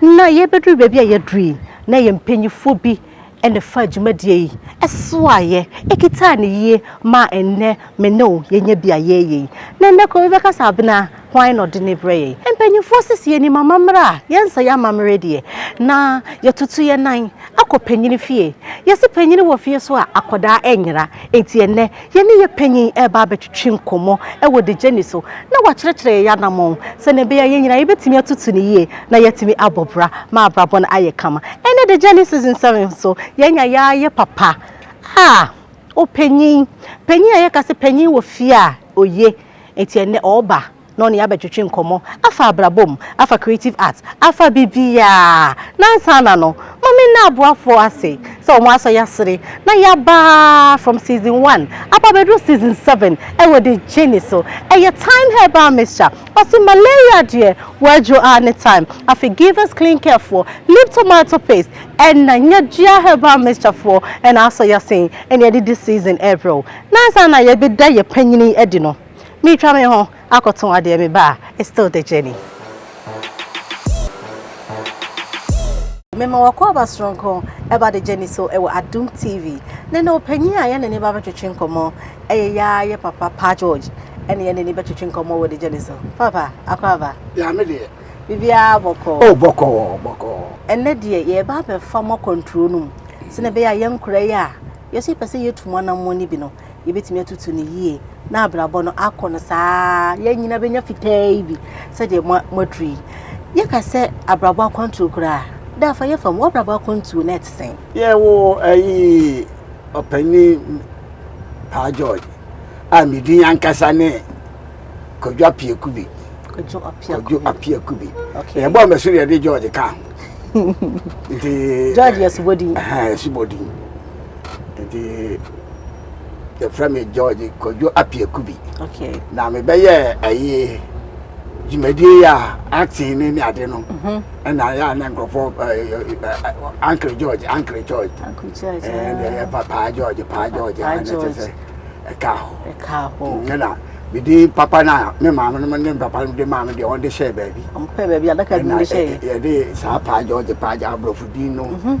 Na yɛbɛduru baabi a yɛaduru yi, na yɛn mpanimfoɔ bi na ɛfaa dwumadie yi soaeɛ, ɛkitaa no yie maa ɛnnɛ me ne wo yɛanya bi a yɛreyɛ yi. Na ɛnnɛ kɔ wobɛka sɛ Abena hwan na ɔde no rebrɛ yɛn? Mpanimfoɔ se sɛ yɛnim amammerɛ a, yɛnsa yɛn amammerɛ deɛ, na yɛtutu yɛn nan kɔ panin fie. Yɛse panin wɔ fie so a, akwadaa nyera, enti ɛnnɛ Yɛne yɛn panyin reba abɛtwetwe nkɔmmɔ wɔ The Journey so na wakyerɛkyerɛ yɛn anammɔn sɛnea ɛbɛyɛ a yɛn nyinaa yebetumi atutu no yiye na yɛatumi abɔ bra ma abrabɔ no ayɛ kama. Ɛnnɛ The Journey Season Seven nso, yɛanya yaayɛ papa a opanyin, panyin a yɛka sɛ panyin wɔ fie a oye, enti ɛnnɛ ɔreba. na ɔne yɛn abɛtwetwe nkɔmmɔ afa abrabɔ mu, afa creative art, afa biribiara. Na ansa na no, ma me nna aboafoɔ ase sɛ wɔn asɔ yɛasere na yɛaba from season one aba abɛduru season seven wɔ The Journey so. Ɛyɛ Time Herbal Mixture, ɔse malaria deɛ wadwo ara ne time. Afei Givers Clean Care foɔ, Lip Tomato Paste, ɛna Nyadua Herbal Mixture foɔ na asɔ yɛasene na yɛde di season ɛrebrɛ wo. Na ansa na yɛbɛda yɛn panyini adi no, Meretwa me ho akɔtõ adeɛ meba a, it's still the journey. Mema wo akwaaba soronko ɛba the journey so ɛwɔ Adom TV ne ne ɔpanyin a yɛne ne ba bɛtwetwe nkɔmmɔ ɛyɛ yaa yɛ papa Pa George ɛne yɛne ne bɛtwetwe nkɔmmɔ wɔ the journey so. Papa, akwaaba. Yaa me deɛ. Biribiara bɔkɔɔ. Oh, bɔkɔɔ, bɔkɔɔ. Ɛnnɛ deɛ yɛreba abɛfa mo akwantuo no mu sɛdeɛ ɛbɛyɛ a yɛn nkoraa yi a yɛso yɛpɛ sɛ yɛtu mo anammɔn no bi no, yɛbɛtumi atutu no yie na abrabɔ no akɔ no saa yɛn nyina bɛnya fitaa yi bi sɛdeɛ moaduru yi yɛka sɛ abrabɔ akwantuo koraa da afa yɛfa mu abrabɔ akwantuo na ɛte sɛn yɛwo ayi ɔpanin paa george a medin ankasa ne kwadwo apiaku bi kwadwo apiaku bi yɛbɔ mɛso deɛ de george ka nti george yɛsobɔdin yɛsobɔdin nti yɛfrɛ me george kwadwo apiaku bi na mebɛyɛ ɛyi dwumadie a acting ne ne ade no mhm. ɛna yɛ a na nkurɔfoɔ ankere george ankere george ɛdeɛ yɛ pa paa george paa george ɛna kyɛ sɛ ɛka ho ɛna mede papa no a me maame no ne papa no de maame deɛ ɔde hyɛɛ baabi yɛde saa paa george paa gya aborɔfo din no mhm.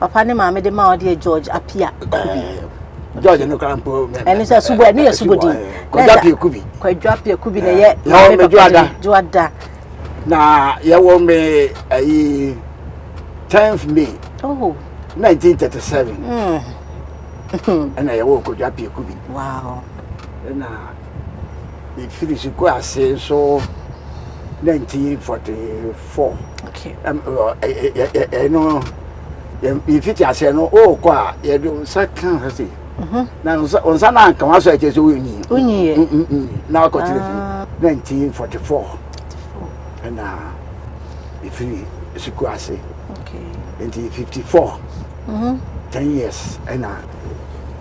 papa ne maame de ma ɔde yɛ george apia kubi george no kora mpo ɛno sɛ subo ɛno yɛ subo din kwadwa pia kubi kwadwa pia kubi na yɛ maame papa de joada na yɛwɔ me ayi 10th may oh. 1937 mm. ɛna yɛwɔ kwadwa pia kubi wow. ɛna mefiri sukuu ase nso 1944 fɔ. Ɛno yɛfiti aseɛ no wokɔ a yɛde wo nsa ka hɔ se na wo nsa no anka wasɔ ɛkyɛ sɛ wonyi na wakɔtena fie 1944 ɛna ɛfiri sukuu ase nti 54 10 years ɛna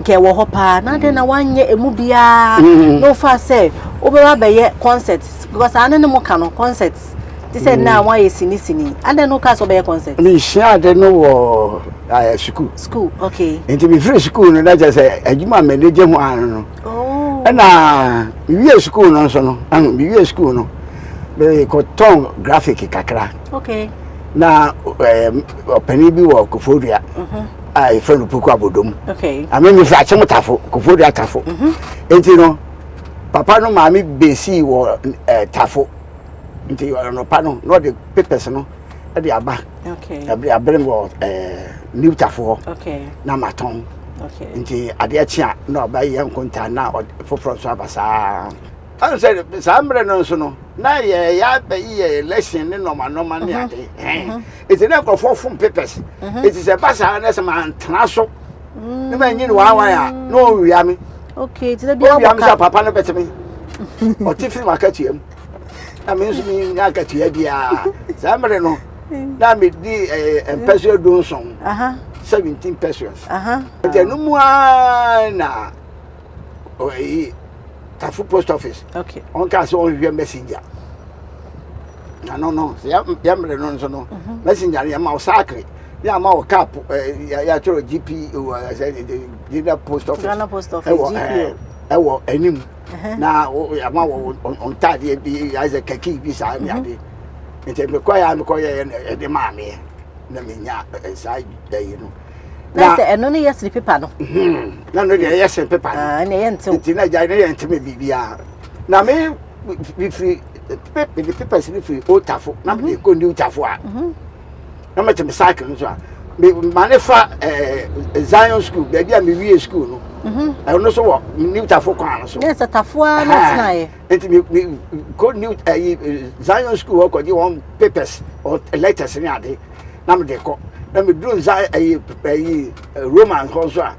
nka ɛwɔ hɔ paa na adɛn na wanyɛ emu biara na wofa sɛ wobɛba bɛyɛ concert because saa ne ne mo ka no concert te sɛ nna a wɔayɛ sini sini adɛn na woka sɛ wobɛyɛ concert mesua ade no wɔ eh, sukuu school okay nti mefiri sukuu no na kyerɛ sɛ adwuma a m'ani gye ho ano no oh ɛna mewie sukuu no nso no ɛho mewie sukuu no mekɔtɔn graphic kakra okay na eh, ɔpani bi wɔ kofodua a yɛfrɛ no puku abodom ame me firi akyem tafo kofoɔ dua tafo mhm. nti no papa no maame besii wɔ eh, tafo nti ɔnɔpa no na ɔde papers no de aba abere wɔ eh, new tafo hɔ na matɔn nti adeɛ kye a na ɔba yɛ nkonta na foforɔ nso aba saa ɛn sɛ saa mmerɛ no nso no na yɛyɛ abɛyi yɛ election ne nɔmanɔma ne mhm. ade mhm. ɛti na nkurɔfoɔ fom papers ɛti sɛ ba saa na sɛ mantena so ne manyi ne waawae a na ɔwia me ɔwia me sɛ papa no bɛte me ɔte firi makatua mu na me nso menya akatua biaa saa mmerɛ no na medi mpɛsoa du nson 17 pesos nti ɛno mu a na tafo post office ɔnka sɛ ɔnhwehwɛ messenger na no no yɛ yɛ mmerɛ no nso no messenger no yɛma wo sakre ne ama wo cap yɛatwerɛ gp ghana post office ghana post office ɛwɔ eh, ɛwɔ anim na ama wo ntadeɛ bi ayɛ sɛ kaki bi saa ne ade nti mekɔyɛ a mekɔyɛyɛ na ɛde maa meɛ na menya saa ayi no na sɛ ɛno no yɛ sere pepa no na no deɛ ɛyɛ sere pepa no nti na agya no yɛ nteme biribiaa na me mefiri mede papers no firi old tafo na mede mhm. kɔ new tafo a mhm. na mete me cycle no so a ma ne fa eh, zion school baabi a mewie school no mhm. ɛno no so wɔ new tafo kwan no so yɛ sɛ tafoa no tenaeɛ nti mekɔ new eh, eh, zion school hɔ kɔgye wɔn papers letters ne ade na mede kɔ na meduru zion roman hɔ so a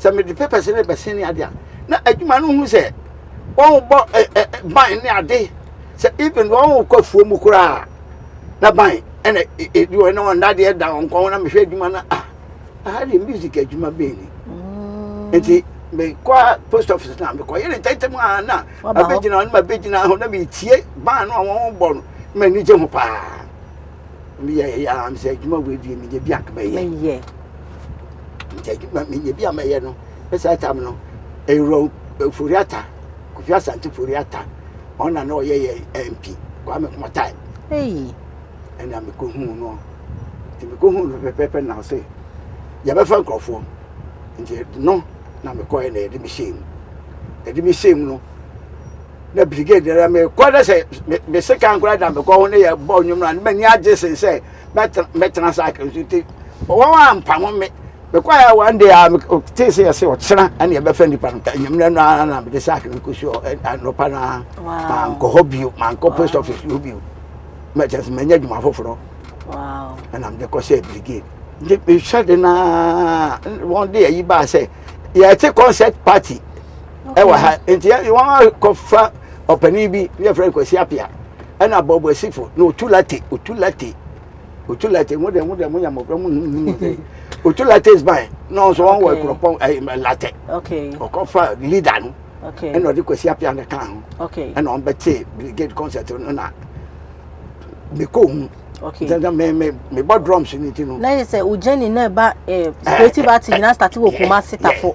sɛ mede papers no rebɛsen ne ade a na adwuma no hu sɛ wɔbɔ ɛ ɛ ban ne ade sɛ even wɔkɔ afuo mu koraa na ban ɛna ɛdi wɔn na wɔn dadeɛ da wɔn kɔn na mehwɛ adwuma no a aha deɛ music adwuma bɛn ni mm. nti mekɔ post office na mekɔyɛ ne ntɛntɛm a na abɛgyina hɔ na mabɛgyina ho na metie ban no a wɔbɔ no m'ani gye ho paa meyɛ yɛ a sɛ adwuma wei deɛ meyɛ bi anka mɛyɛ nti adwuma menya bi a mɛyɛ no ne saa tam no ɛwura eh, foriata kofi asante foriata ɔno na na ɔyɛ yɛ mp kwame kɔmɔtae ɛna mekɔhuu no nti mekɔhuu no pɛpɛpɛ na ɔse yɛbɛfa nkurɔfoɔ nti no na mekɔɛ na yɛde mehyɛɛ mu yɛde mehyɛɛ mu no na brigade na mekɔ na sɛ meseka nkora da mekɔ ho ne yɛbɔ nnwom no a ne m'ani agye sen sɛ mɛtena saa ka nso nti wɔn a mpamo me mekɔɛ a one day a metee sɛ yɛsɛ ɔkyena ɛne ɛbɛfa nnipa no anwummerɛ no ara na mede saake no kɔsi anɔpa no a mankɔ hɔ bio mankɔ post office hɔ bio mɛkyɛ sɛ manya adwuma foforɔ ɛna mede kɔ sɛ brigade nti mehwɛ de no a wɔn de ayi baa sɛ yɛte concert party ɛwɔ ha nti wɔn akɔfa ɔpanin bi yɛfrɛ no kwasi apia ɛna bɔbɔsifo na otu late otu late otu late mo de mo de mo yɛ mɔbrɔ mo num num de otu late is mine na ɔnso wɔn wɔ ekuropɔn ɛɛ late ɔkɔfa leader no ɛna ɔde kwasi apia ne kan ho ɛna wɔn bɛ te brigade concert no na mekɔ mu dada mɛ mɛ mɛ bɔ drums ni ti no. na yɛ sɛ o jɛni na ɛba ɛɛ creative art nyinaa start wɔ kumasi tafo.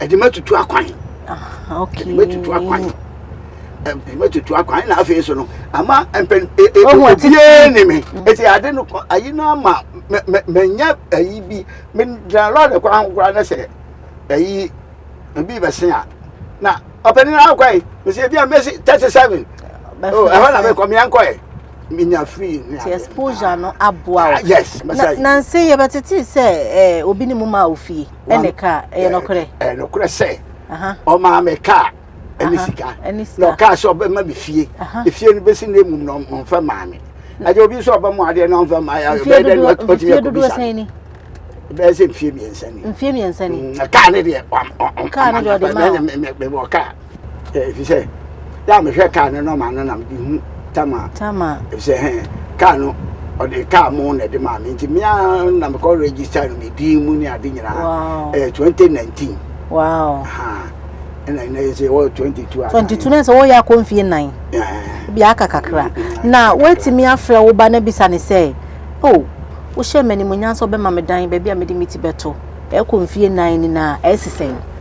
ɛde ma tutu akwan ah, ɛde ma tutu akwan ɛde ma tutu akwan na afei so no ama mpɛn e, e, obiara ni mi mm. eti ade no kɔ ayi no ama mɛ mɛ mɛ nya ayi bi mɛ gyina lɔɔre kwan ho koraa ne sɛ ayi ebi bɛ se a na ɔpɛni na akɔ yi mɛ sɛ ebi a mɛ si thirty seven oh, ɛhɔ na mɛ kɔ mɛ yankɔ yɛ minya free ne adeɛ exposure no aboa o ah, yes na nansi yɛbɛtete sɛ ɛɛ eh, obi ne mu ma ofie. ɛne kaa ɛyɛ nɔkorɛ ɛyɛ nɔkorɛ sɛ ɔmaa me kaa ɛne sika na ɔkaa sɛ ɔbɛma me fie efie no bɛsi na emum na ɔmfa maa me agye obi sɛ ɔbɛmo adeɛ na ɔmfa maa yɛ ɔbɛyɛ dɛ na ɔtumi akɔbisa bɛyɛ sɛ mfie mmiɛnsa ni mfie mmiɛnsa ni mm, kaa ne deɛ ɔmfa maa me mewɔ kaa Efisɛ da a mehwɛ kaa no nɔma no na mede hu Tama. Tama. Efisɛ hɛn kaa no ɔde kaa mo na ɛde maa me nti me ara na mekɔ register no me din mu ne ade nyinaa. Wow. Ɛyɛ 2019. Wow. Aha. Ɛna ɛna yɛ sɛ wɔyɛ 22 a. 22 na sɛ wɔyɛ akɔ mfie nan. Bi aka kakra. Na wɔatumi afrɛ wo ba na bisa ne sɛ, oh, wohyɛ m'animuonyam sɛ ɔbɛma me dan baabi a mede me ti bɛto. Ɛkɔ mfie nan ni na ɛsesɛn.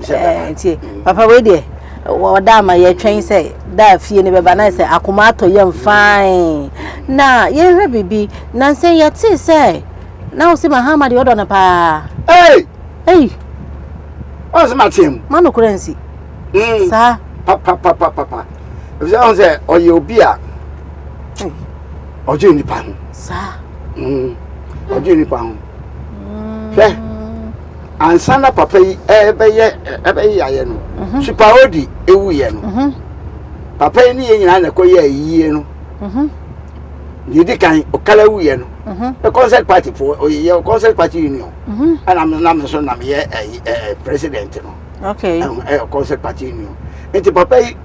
ɛɛ nti papa wei deɛ ɔda ama yɛtwɛn sɛ da fie no bɛba na sɛ akoma atɔ yam fine na yɛhwɛ biribi na nsɛ yɛte sɛ na wo se mahama deɛ ɔdɔ no paa ei ei ɔn sɛ mateɛ mu ma nokorɛ nsi hmm. saa papapapapa ɛfisɛ ɔn sɛ ɔyɛ obi a ɔdwe nnipa ho saa hmm. ɔdwe nnipa ho hmm. hwɛ ansa na papa yi ɛbɛyɛ ɛbɛyɛ ayɛ no mhm. supaodi ewu yɛ no mhm. papa yi ne yɛ nyinaa na ɛkɔ yɛ ayie no mhm. deɛ di kan ɔkala wu yɛ no ɛ concert party fo ɔyɛ yɛ concert party union ɛna mi nam so nam yɛ ɛɛ ɛɛ president no ɛɛ concert party union nti papa yi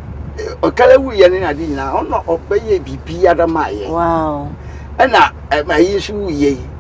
ɔkala wu yɛ ne na de nyinaa ɔna ɔbɛyɛ biribi adama yɛ ɛna ɛma yi nso wu yɛ yi.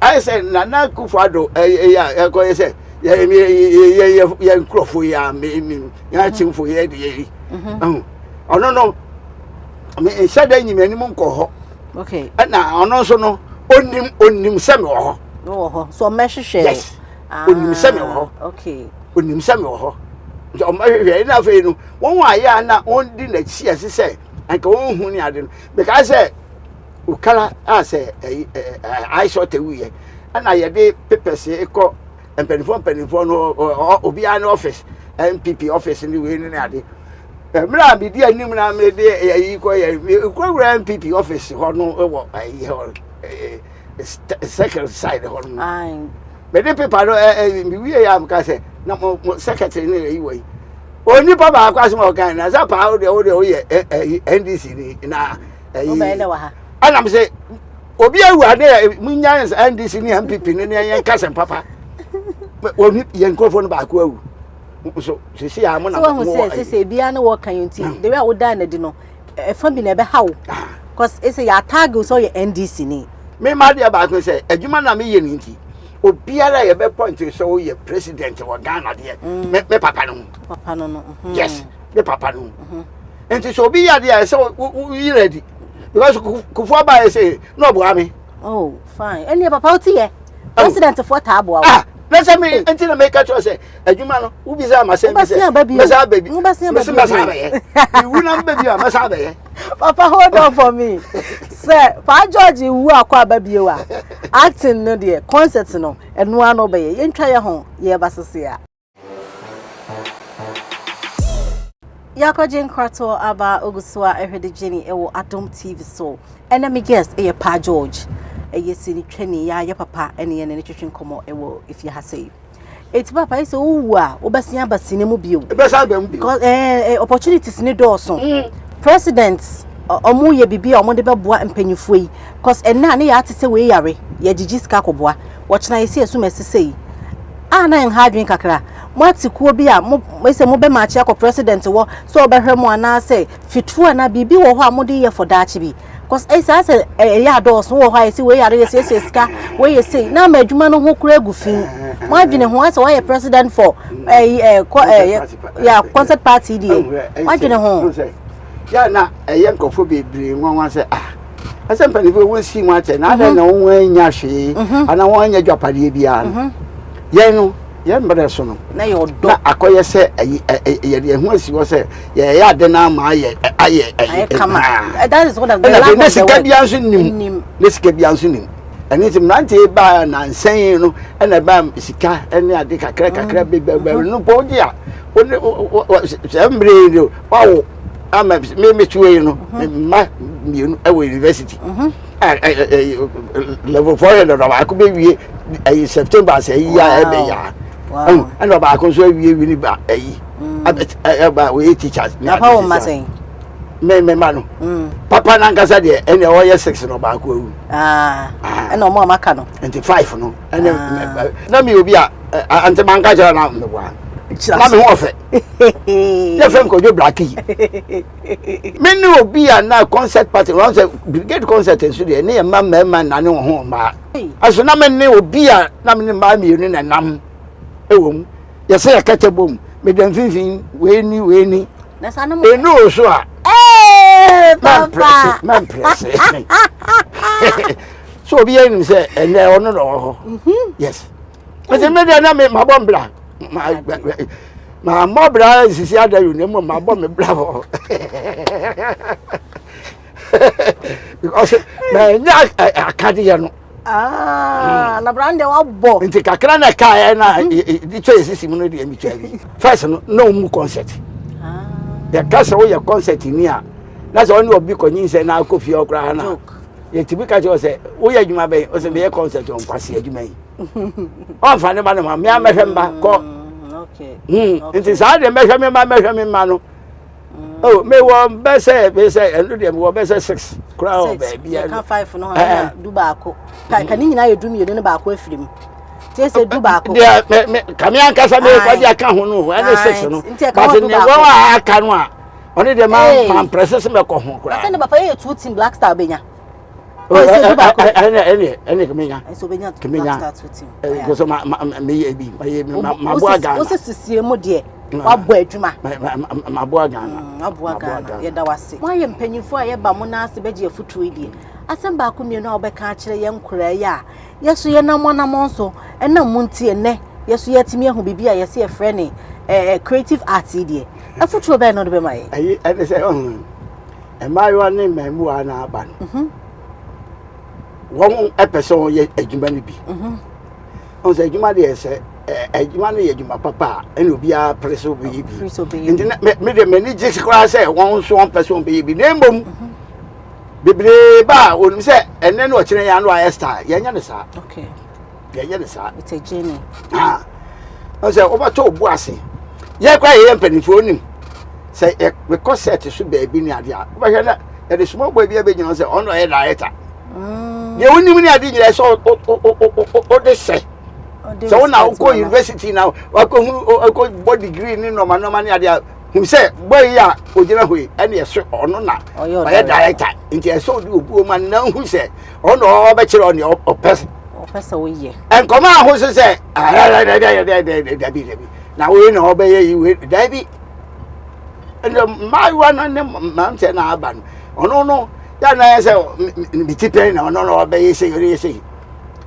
ayɛ sɛ nana akufo ado ɛyɛ a ɛkɔyɛ sɛ yɛ nkurɔfo yɛ a yɛakyemfo yɛ de yɛyi mhm. ɔno no nhyɛ da nyim anim nkɔ hɔ ɛna ɔno nso no onim onim sɛ mewɔ hɔ wɔ hɔ so ɔmɛhwehwɛ yes ah, onim sɛ mewɔ hɔ onim sɛ mewɔ hɔ nti ɔmɛhwehwɛ ɛna afei no wɔn a yɛ a na wɔn di n'akyi ɛse sɛ anka wɔn hu ne ade no mekaa sɛ Okara a sɛ ɛyi ɛɛ aisɔte wuyɛ ɛna yɛde papers kɔ mpanimfoɔ mpanimfoɔ no ɔ obiara ne office npp office ne wei ne ne ade mmerɛ a medi anim na mede ɛyi kɔ yɛ nkurawura npp office hɔ no wɔ ɛyi hɔ ɛɛ second side hɔ no mede paper no ɛɛ mewie yɛ a meka sɛ na mo mo secretary ne ɛyi wɔ yi onipa baako asɛm a ɔkan na sɛ paa wodeɛ wodeɛ woyɛ ndc ni na wobɛyɛ dɛ wɔ ha ɛna me sɛ obi awu ade a munya ndc ne mpp no ne yɛn kasɛm papa wɔn yɛn nkurɔfoɔ no baako awu nso sisi a mo na mo wɔ sɛ sisi ebiara ne wɔka yɛn ti de wi a wodan na di no ɛfa bi na ɛbɛ ha wo cause ɛsɛ yɛ ataage sɛ ɔyɛ ndc ni. mi ma deɛ baako sɛ adwuma na mi yɛ ne nti obiara yɛ bɛ pɔnti sɛ ɔyɛ president wɔ ghana deɛ mɛ mm. mɛ papa no ho. papa no no. Mhm. yes mɛ papa no ho. Mhm. nti sɛ obi yɛ adeɛ a ɛsɛ woyi no adi because kufoɔ baeɛ sɛ na ɔboa me oh fine ɛneɛ papa wote yɛ presidentfoɔ taa boa wo na sɛ me nti na meka kyerɛ sɛ adwuma no wobisa ma sɛ mɛsa bɛbi mɛsa bɛbi mɛsa bɛyɛ mewu na mbɛbi a mɛsa bɛyɛ papa hold on for me sɛ paa george wu akɔ aba bio a acting no deɛ concert no ɛnoa no bɛyɛ yɛntwa yɛ ho yɛba sese a Yɛakɔgye nkratoɔ aba ogu so a ɛhwɛde gyeni ɛwɔ Adom TV so ɛnɛ me guest ɛyɛ Pa George ɛyɛ sini twani yɛ ayɛ papa ɛne yɛne ne twetwe nkɔmɔ ɛwɔ efie ha sɛ eti papa ɛsɛ wowu a wobɛsen aba sini mu bio ɛbɛsan ba mu bio because ɛɛ opportunities ne dɔɔso mm. president ɔmo yɛ biribi a ɔmo de bɛboa mpanyinfoɔ yi because ɛnna ne yɛ ate sɛ wei yare yɛ gyigyi sika kɔboa wɔkyena yɛ si ɛsum ɛsesɛ yi a na ɛnha adwene kakra. Moate kuo bi a mo, sɛ mobɛ maakye akɔ president wɔ sɛ ɔbɛhwɛ mo anaasɛ fitfo anaa biribi wɔ hɔ a mode yɛ for daakye bi. Cause ɛyɛ saa sɛ ɛyɛ adɔɔso wɔ hɔ a yɛsi wei yare yɛsiesie sika wei yɛ sei na ama adwuma no ho kura gu fi. Mo adwene ho asɛ wɔayɛ president for ɛyi ɛ kɔ ɛ ya concert party deɛ. Mo adwene ho. Yɛ na ɛyɛ nkurɔfoɔ bebree nwanwa sɛ ah. ɛsɛ mpanimfoɔ wɔn si wɔn akyɛ na adɛn na mhm. wɔn anya hwee mhm. ana wɔn anya dwapadeɛ biara no mhm. yɛn no yɛn mbrɛ so no na akɔyɛ sɛ yɛde yɛn ho asi hɔ sɛ yɛyɛ ade no ama ayɛ ayɛ ayɛ kama ɛna ne sika biara nso nim ne sika biara nso nim ɛne nti mmeranteɛ baa nansɛn no ɛna ɛbaa sika ɛne ade kakra kakra bɛbɛbɛ no bɔ wode a sɛ mmerɛ no wawo ama me me tuo yi no me mma mmienu wɔ university level four hundred ɔbaako bɛ wie ayi september sɛ ayi a ɛbɛ yɛ a ɛna ɔbaako nso awie wini ba ayi ɛba wɔyɛ teachers ne ade sisi me me ma no papa nankasa deɛ ɛna ɔyɛ six na ɔbaako awu ɛna ɔmo a maka no nti five no ɛna na mi obi a nti manka kyerɛ na meboa na me ho ɔfɛ yɛ fɛn kɔjɔ blaki mi ni obi a na concert party wɔn sɛ brigade concert nso deɛ ne yɛ mma mmarima nane wɔn ho mmaa ɛso na mi ni obi a na mi ni mmaa mmienu na nam ɛwɔ mu yɛsɛ yɛ kɛtɛ bom mi dɛ mfinfin wei ni wei ni enu o so a mɛmprɛse mɛmprɛse so obi yɛ nim sɛ ɛnɛ ɔno na ɔwɔ hɔ yes. ɛsɛ mi deɛ na mi ma bɔ mbra ma ma mɔ bra nsisi ada yi na mu ma bɔ mi bra hɔ because na nya akadeɛ no. Ah, na bra ndɛ wa bɔ. nti kakra na kaa yɛ na di twɛ esisi mu no deɛ mi twɛ bi first no na o mu concert ah. yɛ kasa o yɛ concert ni a na sɛ ɔne ɔbi kɔ nyinsɛn na akɔ fie ɔkora ha na yɛ ti bi ka kyerɛ ɔsɛ o yɛ adwuma bɛyi ɔsɛ mi yɛ concert ɔnkwasi adwuma yi. ɔmfa ne ma no ma mmea mmɛhwɛ mma kɔ mm, hmm, nti saa deɛ mmɛhwɛ me mma mmɛhwɛ me mma no mm. oh mewɔ bɛ sɛ bɛ sɛ ɛno deɛ mewɔ bɛ sɛ six koraa wɔ baabi ɛno ɛka five no hɔ eh, ɛna eh. du baako ka ne nyinaa yɛ du mmienu ne baako afiri mu tiɛ sɛ du baako. deɛ mɛ mɛ kàmi ankasa mi kɔ di aka ho no ɛne six no bàtɛ ni wɔn a aka no a ɔne deɛ maa maa mpɛrɛsɛ sɛ mɛ kɔ ho koraa. ɛsɛ ne papa yɛ two team black star bɛ nya. ɛne kemenya kemenya kɔsɛ meyɛ bi maboa ghana wosɛ sesie mu deɛ wabɔ adwuma maboa ghana maboa ghana yɛda wase moayɛ mpanyimfoɔ a yɛba mo no ase bɛgye afotuo deɛ asɛm baako mmienu a wobɛka akyerɛ yɛn nkoraa yi a yɛso yɛnam anammɔn so ɛnam mu nti ɛnnɛ yɛso yɛatumi ahu biribi a yɛsɛ yɛfrɛ ne creative art yi deɛ afotuo bɛn no de bɛma yɛ ɛne sɛ mmaayewa ne mmaamuwa na aba no mhm. wɔn pɛ sɛ wɔyɛ adwuma no bi mhm. ɔn sɛ adwuma deɛ sɛ adwuma no yɛ adwuma papa a ɛna obiara pere sɛ ɔbɛyɛ bi nti me deɛ m'ani gye koraa sɛ wɔn nso wɔn pɛ sɛ wɔn bɛyɛ bi na mmom mhm. bebree ba a wɔnim sɛ ɛnɛ na ɔkyerɛ yɛn ano ayɛ star yɛnyɛ no saa. yɛyɛ ne saa it's a journey ah ɔsɛ wobɛtɔ obu ase yɛ kora yɛyɛ mpanimfoɔ onim sɛ yɛkɔ set so baabi ne adeɛ a wobɛhwɛ na yɛde small boy bi abɛgyina sɛ ɔno ɔyɛ director mm. deɛ wonim ne ade nyinaa sɛ wode sɛ sɛ wona wokɔ university na wakɔhunu wakɔbɔ degree ne nɔmanɔma ne adeɛ a hu sɛ bɔ yi a ogyina hɔ yi ɛne ɛso ɔno na ɔyɛ director nti ɛsɛ ɔde obi wɔ mu a na hu sɛ ɔno ɔbɛkyerɛ ɔne ɔpɛ ɔpɛ sɛ woyɛ nkɔmɔ aho so sɛ dabi dabi na wei na ɔbɛyɛ yi wei dabi ɛnna mmaayewa no ne mmeranteɛ no aba no ɔno no yɛ na yɛ sɛ ne ti pɛn na ɔno na ɔbɛyɛ sɛ yɛ sɛ yi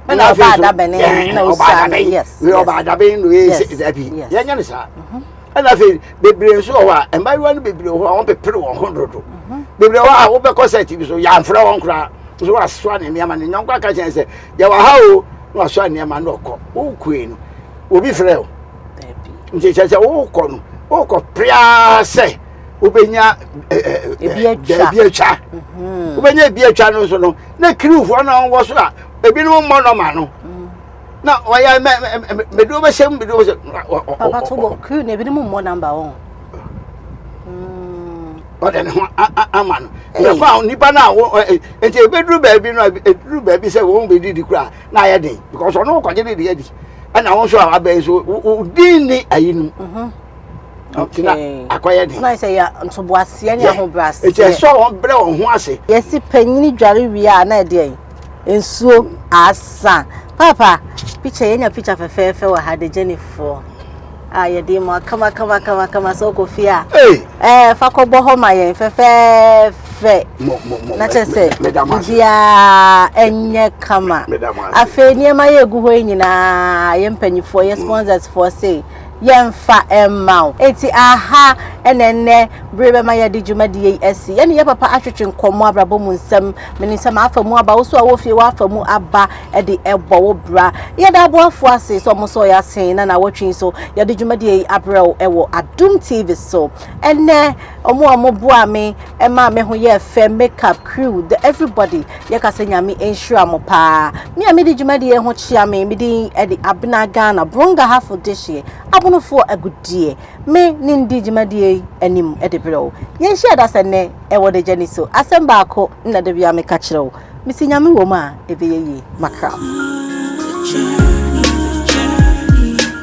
ɛna afei so ɔba adabɛn na ɔyɛ sɛ dabi yɛnyɛ no saa ɛna afei bebree nso wɔ hɔ a mmaayewa no bebree wɔ hɔ a wɔpepere wɔn ho dodo mhm. bebree wɔ a wobɛkɔ sɛ tv so yɛamfrɛ wɔn koraa nso wasoa ne nneɛma ne nyɔnko aka kyɛn sɛ yɛwɔ ha o na wasoa nneɛma no ɔkɔ wokue no obi frɛ o nti kyerɛ sɛ wokɔ no wokɔ prea sɛ wobɛnya eh, eh, eh, ebi atwa mhm. wobɛnya ebi atwa no nso no na kiriwfoɔ no wɔ so a ebinom mmɔ nɔma no na ɔyɛ mɛ mɛ mɛ duro bɛ hyɛ mu duro bɛ hyɛ. papa tó bɔ kiri na ebi ni mu mmɔ namba wɔn. ɔdɛ ne ho ama no nyɛkɔ a nipa no a wɔ nti ebeduru baabi no ebeduru baabi sɛ wɔn bɛ didi kura na ayɛ den because ɔno kɔgye didi adi ɛna wɔn nso a wabɛn so din ni ayi no. tina akɔyɛ den. n'ayɛ sɛ ya ntoboaseɛ ne ahobrɛaseɛ. ɛkyɛ sɛ wɔn brɛ wɔn ho ase. yɛsi panyin dware wie a na ɛdeɛ yi. Nsuo asa. Paapa picture yɛnya picture fɛfɛɛfɛ wɔ ha de gyeni foɔ a yɛde mu akama kama kama kama sɛ ɔkɔ fie a ɛɛ fa kɔbɔ hɔ ma yɛn fɛfɛɛfɛ na kyɛ sɛ biribiara ɛnyɛ kama afei nneɛma yɛ egu hɔ yi nyinaa yɛ mpanyifoɔ yɛ sponsors foɔ sei. yɛmfa mma wo. Enti aha na ɛnnɛ bere bɛma yɛde dwumadie yi asi. Yɛne yɛn papa atwetwe nkɔmmɔ abrabɔ mu nsɛm. Menim sɛ m'afa mu aba, wo nso a wɔ fie w'afa mu aba de ɛbɔ wo bra. Yɛda aboafoɔ ase sɛ wɔn sɔɔ yɛn asen na naawɔtwe yi so yɛde dwumadie yi abrɛ wo wɔ Adom TV so. Ɛnnɛ wɔn a wɔboaa me ma me ho yɛɛ fɛ, makeup crew, the everybody, Yɛka sɛ Nyame nhyira mo paa. Me a medi dwumadi yi ho kyea me, me din de Abena Ghana, Buronga Hafo Dehyeɛ, Abonofoɔ Agudeɛ. Me ne ndi dwumadie yi anim de berɛ wo. Yɛn hyia da sɛ nnɛ wɔ Dagyani so. Asɛm baako na da biara meka kyerɛ wo, me se Nyame wɔ mu a ɛbɛyɛ yie. Makram.